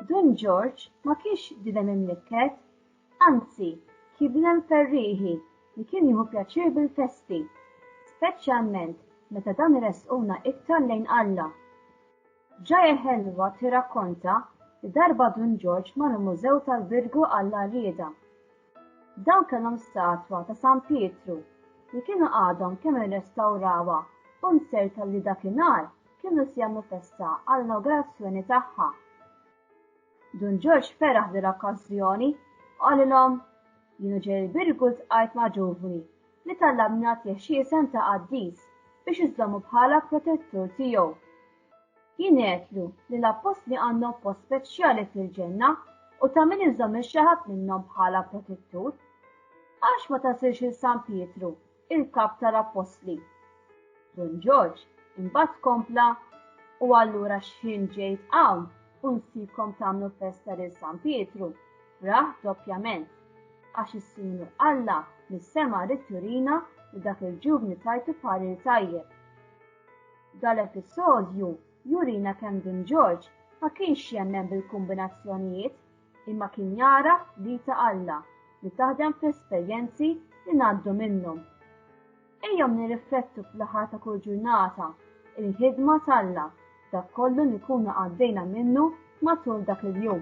Dun Ġorġ ma kienx dinem imlikket, anzi kien dinem ferrieħi li kien jieħu pjaċir bil-festi, speċjalment meta dan iressquna iktar lejn Alla. Ġaja Ħelwa tirrakkonta li darba Dun Ġorġ mar mużew tal-Birgu Alla Rieda Dawn kellhom statwa ta' San Pietru li kienu għadhom kemm irrestawrawha u mserrta li dakinhar kienu se jagħmlu festa għall-inawgurazzjoni tagħha. Dun Ġorġ feraħ dil-okkażjoni u qalilhom, Jienu ġej il-Birgu ltqajt ma' ġuvni li talabni nagħtih xi isem ta' qaddis biex iżommu bħala protettur tiegħu. Jingħedlu li l-appostli għandhom post speċjali fil-ġenna u ta' min iżomm il-xaħat minnhom bħala protettur. Għax ma tasilx il San Pietru, il-kap tal-appostli. Don Ġorġ imbagħad kompla u allura xħin ġejt hawn u nsibkom tagħmlu festa lil San Pietru, raħ doppjament, għax is-Sinjur Alla mis-sema ritturina li dak il-ġuvni tajtu parir tajjeb. Dal-episodju jurina kemm Dun Ġorġ ma kienx jemmen bil-kumbinazzjonijiet imma kien jagħraf l-id ta' Alla li taħdem fl-esperjenzi li ngħaddu minnhom. Ejjew nirriflettu fl-aħħar ta' kull ġurnata il-ħidma t'Alla dak kollu li nkunu għaddejna minnu matul dak il-jum.